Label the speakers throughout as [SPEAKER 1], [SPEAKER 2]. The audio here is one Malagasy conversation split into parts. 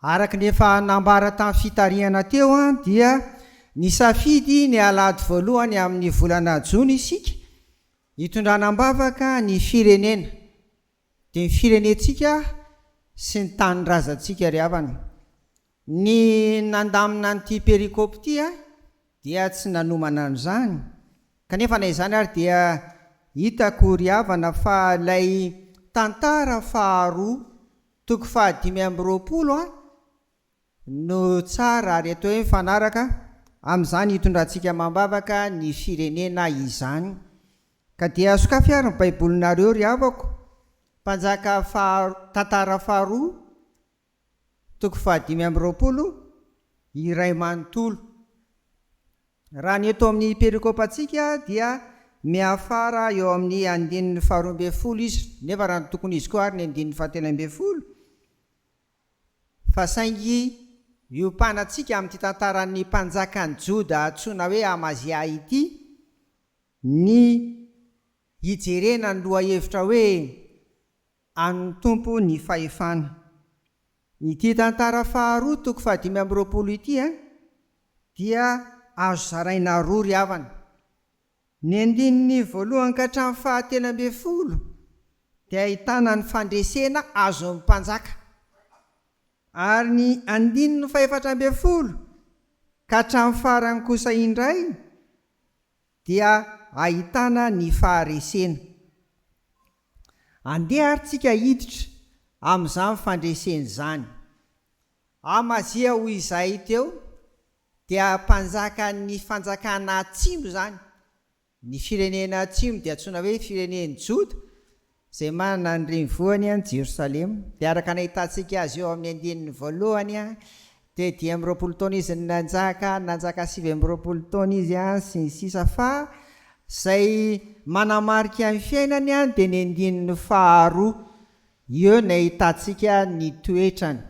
[SPEAKER 1] Araka ny efa nambara tamin'ny fitarihana teo dia nisafidy ny alahady voalohany amin'ny volana jona isika hitondrana am-bavaka ny firenena. dia ny firenentsika sy ny tanindrazantsika ry havana. Ny nandamina an'ity pericop ity dia tsy nanomana an'izany, kanefa na izany ary dia hitako ry havana fa ilay tantara faharoa toko fahadimy amby roapolo no tsara ary atao hoe mifanaraka amin'izany hitondrantsika amam-bavaka ny firenena izany. Ka dia sokafy ary ny Baibolinareo ry havako, Mpanjaka faha, Tantara faharoa, toko fahadimy amby roapolo, iray manontolo. Raha ny eto amin'ny perikopantsika dia miafara eo amin'ny andininy faharoa ambin'ny folo izy, nefa raha ny tokon'izy koa ary ny andininy fahatelo ambin'ny folo, Fa saingy miompanatsika amin'ity tantaran'ny mpanjakan'ny Joda antsoina hoe Amazia ity ny hijerena ny lohahevitra hoe an'ny Tompo ny fahefana. Ity tantara faharoa toko fahadimy amby roapolo ity dia azo zaraina roa ry havana. Ny andininy voalohany ka hatramin'ny fahatelo ambin'ny folo dia ahitana ny fandresena azon'ny mpanjaka, ary ny andininy fahefatra ambin'ny folo ka hatramin'ny farany kosa indray dia ahitana ny faharesena. Andeha ary tsika hiditra amin'izany fandresena izany. Amazia ho izahay teo Dia mpanjakan'ny fanjakana atsimo izany. Ny firenena atsimo dia antsoina hoe firenen'i Joda, izay manana ny renivohiny any Jerosalema. Dia araka ny ahitantsika azy eo amin'ny andininy voalohany, dia dimy amby roapolo taona izy no nanjaka, nanjaka sivy amby roapolo taona izy, sy ny sisa Fa izay manamarika ny fiainany dia ny andininy faharoa, eo no ahitantsika ny toetrany.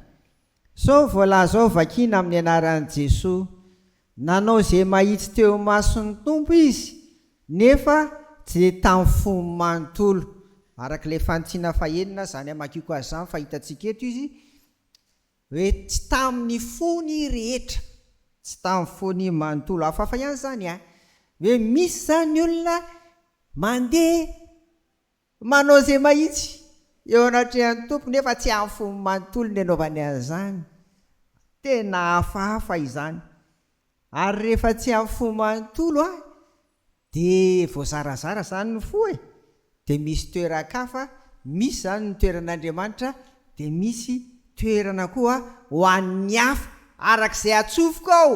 [SPEAKER 1] Sao voalaza ao vakiana amin'ny anaran'i Jesoa, nanao izay mahitsy teo imason'ny Tompo izy nefa dia tamin'ny fony manontolo, araka ilay fanitsina fahenina izany hamakiako azy izany fa hitantsika eto izy hoe tsy tamin'ny fony rehetra, tsy tamin'ny fony manontolo, hafahafa ihany izany an! hoe misy izany olona mandeha Manao izay mahitsy eo anatrehan'ny Tompo nefa tsy amin'ny fony manontolo ny anaovany an'izany. Tena hafahafa izany. Ary rehefa tsy amin'ny fo manontolo an, dia voazarazara izany ny fo e! Dia misy toeran-kafa, misy izany ny toeran'Andriamanitra, dia misy toerana koa ho an'ny hafa, araka izay atsofoka ao,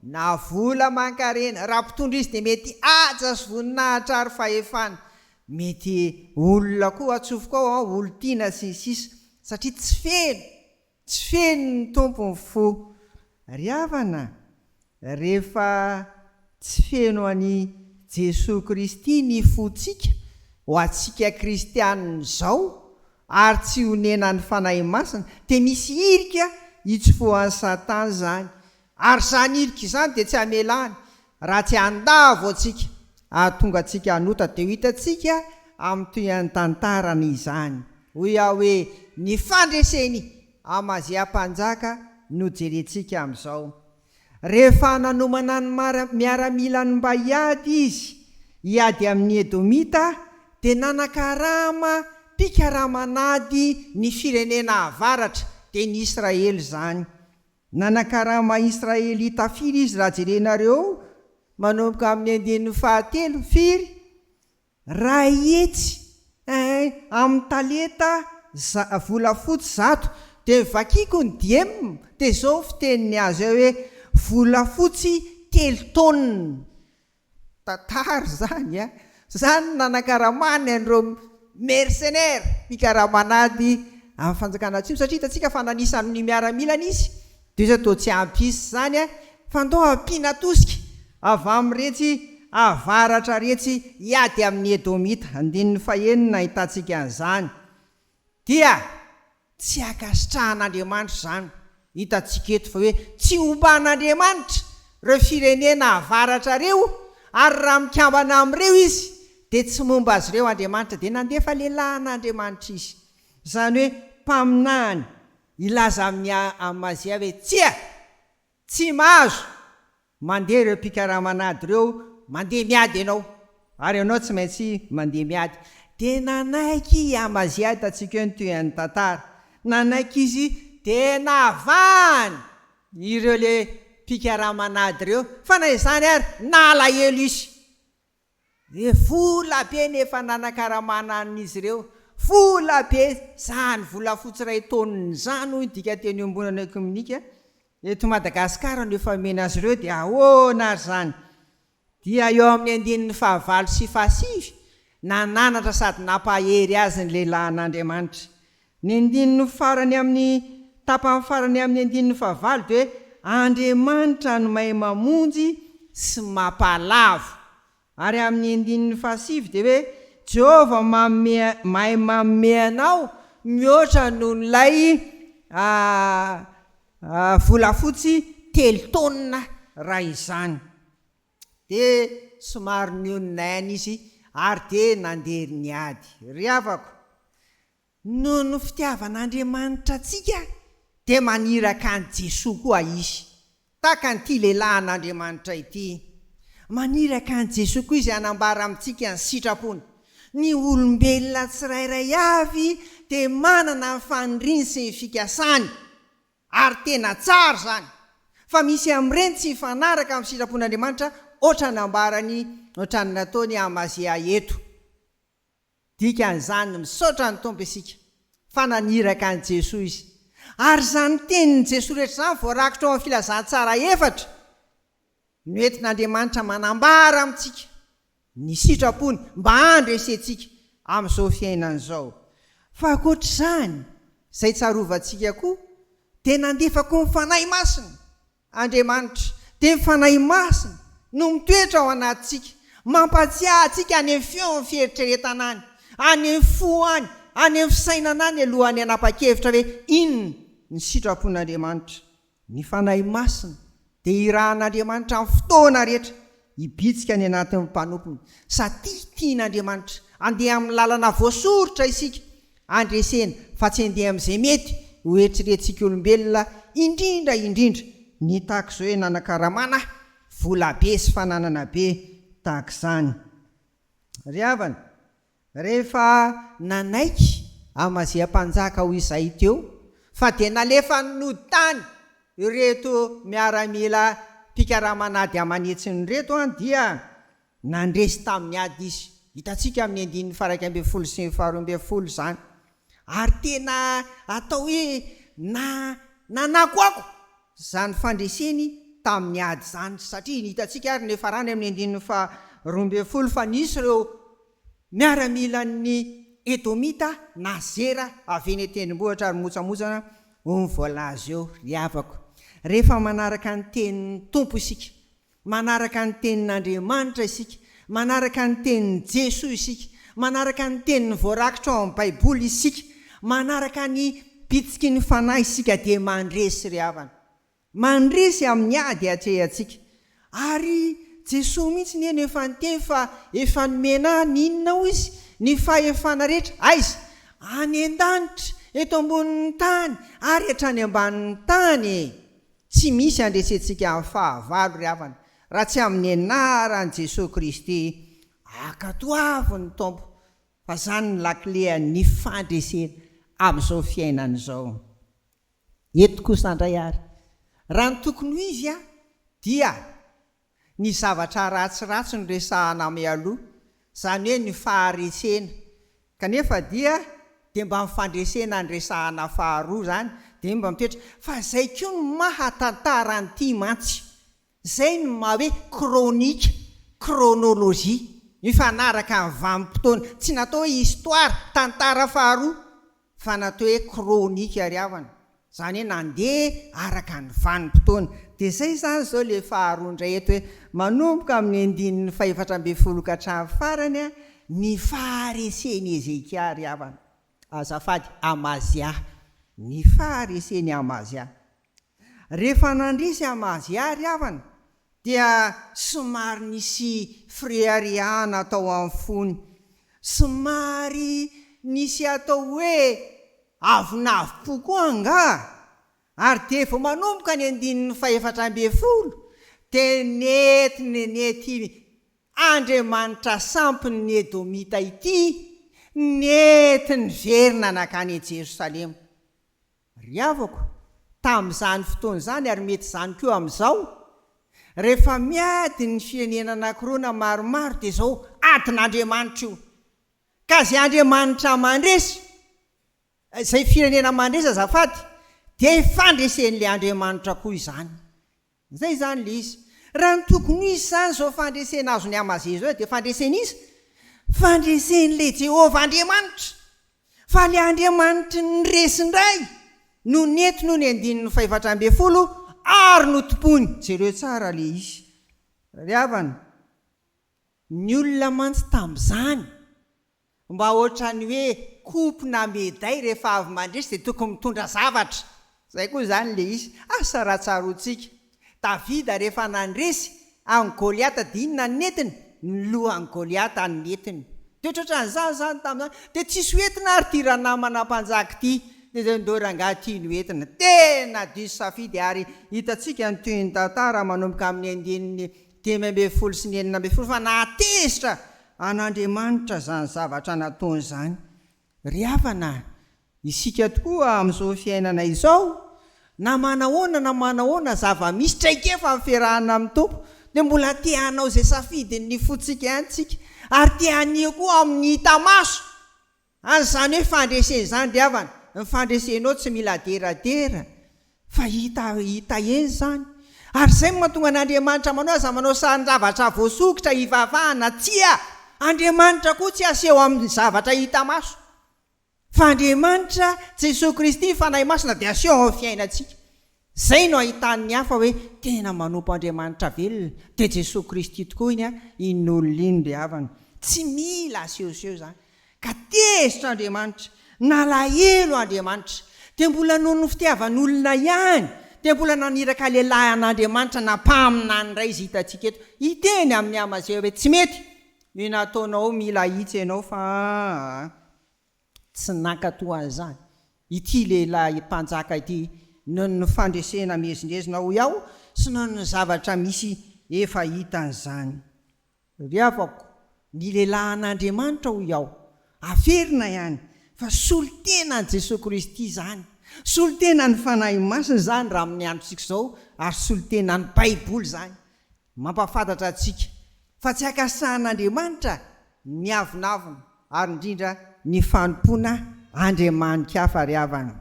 [SPEAKER 1] na vola aman-karena, raha mpitondra izy dia mety haja sy voninahitra ary fahefana, Mety olona koa atsofoko ao an, olon-tiana sy ny sisa satria tsy feno, tsy feno ny Tompo ny fo. Ry havana a! rehefa tsy feno an'i Jesoa Kristy ny fontsika ho antsika kristianina izao ary tsy onenan'ny Fanahy Masina dia misy hirika itsofohan'i Satana izany Ary izany ilika izany dia tsy hamela any, raha tsy handavo antsika, hahatonga antsika hanota dia ho hitantsika amin'ny tohin'ny tantarany izany. Hoy Yah hoe, Ny fandreseny, Amazia mpanjaka, no jerentsika amin'izao. Rehefa nanomana ny miaramilany mba hiady izy, hiady amin'ny Edomita, dia nanakarama mpikarama an'ady ny firenena avaratra, dia ny Israely izany. Nanakarama Israelita firy izy raha jerenareo manomboka amin'ny andininy fahatelo? Firy? Ray hetsy eh, amin'ny talenta za, volafotsy zato. Dia vakiko ny diem, dia izao ny fiteniny azy hoe, volafotsy telo taonina. Tantara izany a! Izany no nanakaramany an'ireo mercenaires, mpikaraman'ady amin'ny fanjakana atsimo, satria hitantsika fa nanisa amin'ny miaramilany izy, dia iza toa tsy hampisy izany a! Fa ndao ampiana tosika avy amin'iretsy avaratra iretsy hiady amin'ny Edomita. Andininy fahenina ahitantsika an'izany. Dia tsy ankasitrahan'Andriamanitra izany. Hitantsika eto fa hoe tsy omban'Andriamanitra ireo firenena avaratra ireo, ary raha mikambana amin'ireo izy dia tsy momba azy ireo Andriamanitra, dia nandefa lehilahy an'Andriamanitra izy, izany hoe mpaminany, hilaza amin'i Amazia hoe, Tsia! Tsy mahazo! Mandeha ireo mpikaramana ady ireo, mandeha miady ianao, ary ianao tsy maintsy mandeha miady. Dia nanaiky i Amazia hitantsika eo ny tohin'ny tantara. Nanaiky izy dia navahany ireo ilay mpikaramana ady ireo, fa na izany ary nalahelo izy. Ve vola be ny efa nanakaramana an'izy ireo? Vola be, izany volafotsy iray taonina izany hoy ny dika teny iombonana ekominika eto Madagasikara no efa omena azy ireo dia ahoana ary izany? Dia eo amin'ny andininy fahavalo sy fahasivy, nananatra sady nampahery azy ny lehilahin'Andriamanitra. Ny andininy farany amin'ny tapany farany amin'ny andininy fahavalo dia hoe Andriamanitra no mahay mamonjy sy mapalavo ary amin'ny andininy fahasivy dia hoe Jehovah manome mahay manome anao mihoatra noho ilay volafotsy telo taonina raha izany dia somary nionona aina izy ary dia nandeha niady. Ry havako, Noho ny fitiavan'Andriamanitra antsika dia maniraka an'i Jesoa koa Izy, tahaka an'ity lehilahy an'Andriamanitra ity. Maniraka an'i Jesoa koa Izy hanambara amintsika ny sitrapony. Ny olombelona tsirairay avy dia manana ny faniriany sy ny fikasany, ary tena tsara izany. Fa misy amin'ireny tsy mifanaraka amin'ny sitrapon'Andriamanitra, hoatran'ny nambarany, hoatran'ny nataon'i Amazia eto. Dikan'izany, misaotra ny Tompo isika fa naniraka an'i Jesoa Izy. Ary izany tenin'i Jesoa rehetra izany voarakitra ao amin'ny Filazantsara efatra no entin'Andriamanitra manambara amintsika ny sitrapony mba handresentsika amin'izao fiainana izao. Fa ankoatr'izany, izay tsarovantsika koa dia nandefako ny Fanahy Masina Andriamanitra, dia ny Fanahy Masina no mitoetra ao anatintsika, mampatsiahy antsika any amin'ny feon'ny fieritreretana any, any amin'ny fo any, any amin'ny fisainana any alohan'ny hanapa-kevitra hoe inona ny sitrapon'Andriamanitra. Ny Fanahy Masina dia irahan'Andriamanitra amin'ny fotoana rehetra hibitsika any anatin'ny mpanompony, satria tian'Andriamanitra handeha amin'ny lalana voasoritra isika, Handresena, fa tsy handeha amin'izay mety ho eritreretsik'olombelona indrindra indrindra. Nitaky izao hoe nanakaramana aho, vola be sy fananana be tahaka izany. Ry havana, rehefa nanaiky Amazia mpanjaka ho izay teo, fa dia nalefany nody tany ireto miaramila mpikaraman'ady aman'hetsiny ireto, dia Nandresy tamin'ny ady izy. Hitantsika amin'ny andininy faharaika ambin'ny folo sy ny faharoa ambin'ny folo izany. Ary tena atao hoe na, nanakoako izany fandreseny tamin'ny ady izany, satria hitantsika ary ny farany amin'ny andininy faharoa ambin'ny folo fa nisy ireo miaramilan'ny Edomita na Zera avy eny an-tendrombohitra ary mimotsamotsana ho ny voalaza eo, ry havako. Rehefa manaraka ny tenin'ny Tompo isika. Manaraka ny Tenin'Andriamanitra isika. Manaraka ny Tenin'i Jesoa isika. Manaraka ny Teniny voarakitra ao amin'ny Baiboly isika. Manaraka ny bitsiky ny Fanahy isika dia mandresy ry havana. Mandresy amin'ny ady atrehantsika. Ary Jesoa mihitsy anie no efa niteny fa efa nomena ahy ny inona hoy Izy? Ny fahefana rehetra. Aiza? Any an-danitra, eto ambonin'ny tany ary hatrany ambanin'ny tany e! Tsy misy andresentsika amin'ny fahavalo ry havana raha tsy amin'ny anaran'i Jesoa Kristy, ankatoavin' ny Tompo fa izany no lakile an'ny fandresena amin'izao fiainana izao. Eto kosa indray ary, raha ny tokony ho izy dia Ny zavatra ratsiratsy no resahana mialoha, izany hoe ny faharesena, kanefa dia dia mba ny fandresena no resahana faharoa izany, dia iny mba mipetraka, fa izay koa no maha tantara an'ity mantsy, izay no maha hoe kronika, kronolojia, mifanaraka amin'ny vanim-potoana, tsy natao hoe histoire, tantara faharoa, fa natao hoe chronique ary havana, izany hoe nandeha araka ny vanim-potoana. Dia izay izany izao ilay faharoa indray eto hoe, manomboka amin'ny andininy fahefatra ambin'ny folo ka hatramin'ny farany ny faharesen'i Hezekia ary havana. Azafady, Amazia. Ny faharesen'i Amazia. Rehefa nandresy am azy ary havana dia somary nisy fireharehana tao am fony, somary nisy atao hoe avonavompo koa angaha, ary dia vao manomboka ny andininy fahefatra ambin'ny folo dia nentiny nety Andriamanitra sampin' ny Edomita ity, nety niverina nankany Jerosalema. Ry havako, tamin'izany fotoana izany, ary mety izany koa amin'izao, rehefa miady ny firenena anankiroa na maromaro dia izao adin'Andriamanitra io. Ka izay Andriamanitra mandresy, izay firenena mandresy azafady, dia fandresen'ilay Andriamanitra koa izany. Izay izany ilay izy. Raha ny tokony ho izy izany izao fandresena azon'i Amazia izao dia fandresen'iza? Fandresen'ilay Jehovah Andriamanitra. Fa ilay Andriamanitry ny resy indray no nentiny hoy ny andininy fahefatra ambin'ny folo, ary notompoiny. Jereo tsara ilay izy. Ry havana, ny olona mantsy tamin'izany, Mba ohatran'ny hoe coupe na meday rehefa avy mandresy dia tokony mitondra zavatra. Izay koa izany ilay izy. Asa raha tsaroantsika. Davida rehefa nandresy an'i Goliata dia inona no nentiny? Ny lohan'i Goliata no nentiny. Dia ohatran'izany izany tamin'izany. Dia tsisy ho entina ary ity ranamana mpanjaka ity. Dia izay ndao rangahy ity no entina. Tena diso safidy ary hitantsika ny tohin'ny tantara manomboka amin'ny andininy dimy ambin'ny folo sy ny enina ambin'ny folo fa nahatezitra an'Andriamanitra izany zavatra nataony izany. Ry havana, isika tokoa amin'izao fiainana izao, na manahoana na manahoana zava-misy, traikefa amin'ny fiarahana amin'ny Tompo, dia mbola te hanao izay safidin'ny fontsika ihany isika, ary te hanihy koa amin'ny hita maso. Ary izany hoe fandresena izany ry havana, ny fandresenao tsy mila aderadera fa hita hita eny izany. Ary izay no mahatonga an' Andriamanitra manao aza manao sarin-javatra voasokitra hivavahana, tsia, Andriamanitra koa tsy aseho amin' ny zavatra hita maso, fa Andriamanitra, Jesoa Kristy, ny Fanahy Masina dia aseho amin' ny fiainantsika. Izay no ahitan'ny hafa hoe tena manompo Andriamanitra velona, dia Jesoa Kristy tokoa iny an, iny olona iny ry havana. Tsy mila asehoseho izany. Ka tezitra Andriamanitra, nalahelo Andriamanitra, dia mbola noho ny fitiavan'olona ihany, dia mbola naniraka lehilahy an'Andriamanitra na mpaminany indray izy hitantsika eto, hiteny amin'i Amazia hoe tsy mety ny nataonao, mila ahitsy ianao fa an. Tsy nankatò an'izany ity lehilahy mpanjaka ity noho ny fandresena miezinezina hoy aho sy noho ny zavatra misy efa hitany izany. Ry havako, ny lehilahin'Andriamanitra hoy aho, averina ihany fa solon-tenan'i Jesoa Kristy izany, solon-tenan'ny Fanahy Masina izany raha amin'ny androntsika izao ary solon-tenan'ny Baiboly izany. Mampahafantatra antsika fa tsy ankasahan'Andriamanitra ny avonavona ary indrindra ny fanompoana andriamani-kafa ry havana.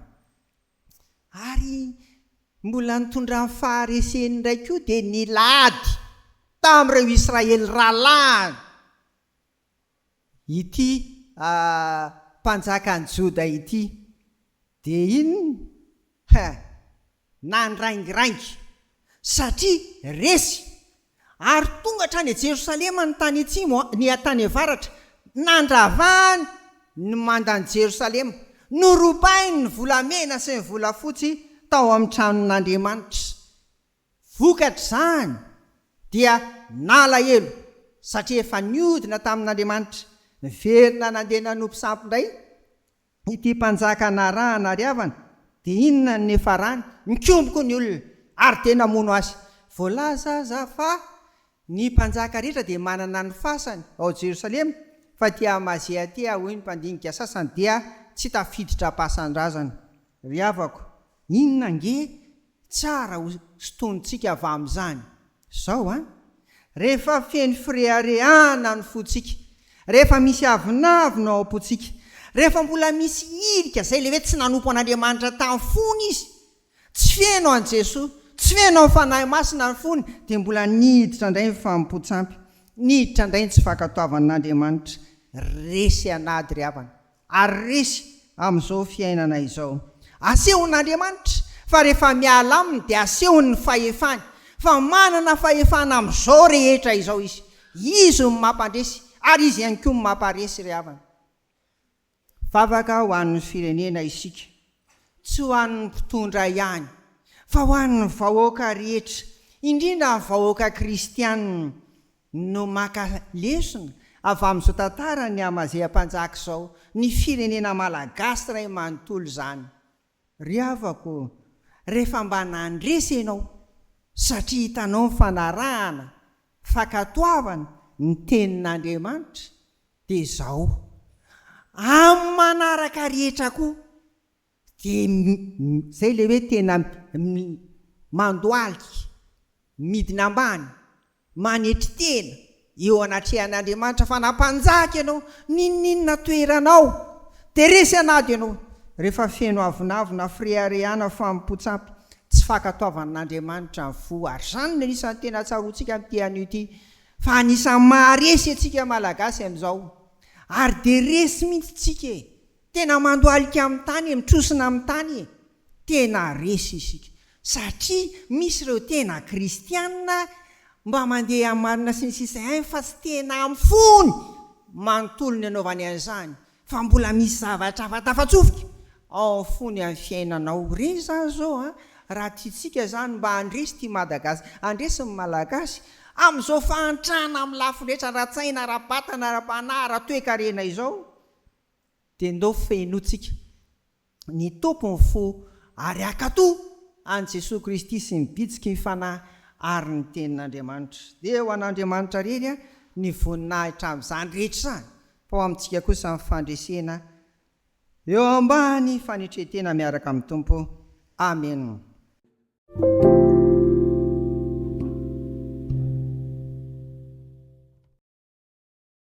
[SPEAKER 1] Ary mbola nitondran'ny fahareseny indray koa dia nilady tamin'ireo Israely rahalahiny ity mpanjakan'ny Joda ity, dia inona? He! Nandraingiraingy, satria resy, ary tonga hatrany a Jerosalema ny tany atsimo, ny tany avaratra, nandravany ny mandan'i Jerosalema, norobainy ny volamena sy ny volafotsy tao amin'ny tranon'Andriamanitra. Vokatr'izany dia nalahelo satria efa niodina tamin'Andriamanitra. Niverina nandeha nanompo sampy indray ity mpanjaka anarahana ary havana. Dia inona no niafarany? Nikomboko ny olona ary dia namono azy. Voalaza aza fa Ny mpanjaka rehetra dia manana ny fasany ao Jerosalema, fa dia Amazia-tea, hoy ny mpandinika sasany, dia tsy tafiditra am-pasan-drazana. Ry havako, inona ange tsara ho sintonintsika avy amin'izany? Izao an! Rehefa feno fireharehana ny fontsika, rehefa misy avonavona ao am-pontsika, rehefa mbola misy hirika izay ilay hoe tsy nanompo an'Andriamanitra tamin'ny fony izy, Tsy feno an'i Jesoa, tsy feno amin'ny Fanahy Masina ny fony, dia mbola niditra indray ny fanompoan-tsampy, niditra indray ny tsy fankatoavana an'Andriamanitra. Resy an'ady ry havana, ary resy amin'izao fiainana izao. Asehon'Andriamanitra fa rehefa miala aminy dia asehony ny fahefany, fa manana fahefana amin'izao rehetra izao Izy. Izy no mampandresy, ary Izy ihany koa no mampaharesy ry havana. Vavaka ho an'ny firenena isika, tsy ho an'ny mpitondra ihany, fa ho an'ny vahoaka rehetra, indrindra ny vahoaka kristiana no maka lesona avy amin'izao tantaran'i Amazia Mpanjaka izao, ny firenena malagasy iray manontolo izany. Ry havako, rehefa mba nandresy ianao satria hitanao ny fanarahana, fankatoavana ny Tenin'Andriamanitra, dia izao, amin'ny manaraka rehetra koa, dia izay ilay hoe tena mandohalika, midina ambany, Manetry tena eo anatrehan'Andriamanitra fa na mpanjaka ianao, n'inon'inona toeranao, dia resy an'ady ianao, rehefa feno avonavona na fireharehana fanompoan-tsampy, tsy fankatoavan'Andriamanitra ny fo, ary izany no anisan'ny tena tsaroantsika amin'ity anio ity, fa anisan'ny maharesy antsika Malagasy amin'izao, ary dia resy mihitsy isika e! tena mandohalika amin'ny tany e! mitrosona amin'ny tany e! Tena resy isika satria misy ireo tena kristiana mba mandeha amin'ny marina sy ny sisa ihany fa tsy tena amin'ny fony manontolo ny anaovany an'izany fa mbola misy zavatra hafa tafatsofika ao amin'ny fony amin'ny fiainanao ireny izany izao an! raha tiantsika izany mba handresy ity Madagas handresy ny Malagasy amin'izao fahantrana amin'ny lafiny rehetra ara-tsaina, ara-batana, ara-panahy, ara-toekarena izao dia ndao fenointsika ny Tompo ny fo ary akato an'i Jesoa Kristy sy ny bitsiky ny Fanahy ary ny Tenin'Andriamanitra. Dia ho an'Andriamanitra irery ny voninahitra amin'izany rehetra izany, fa ho amintsika kosa ny fandresena eo ambany fanetren-tena miaraka amin'ny Tompo. Amena.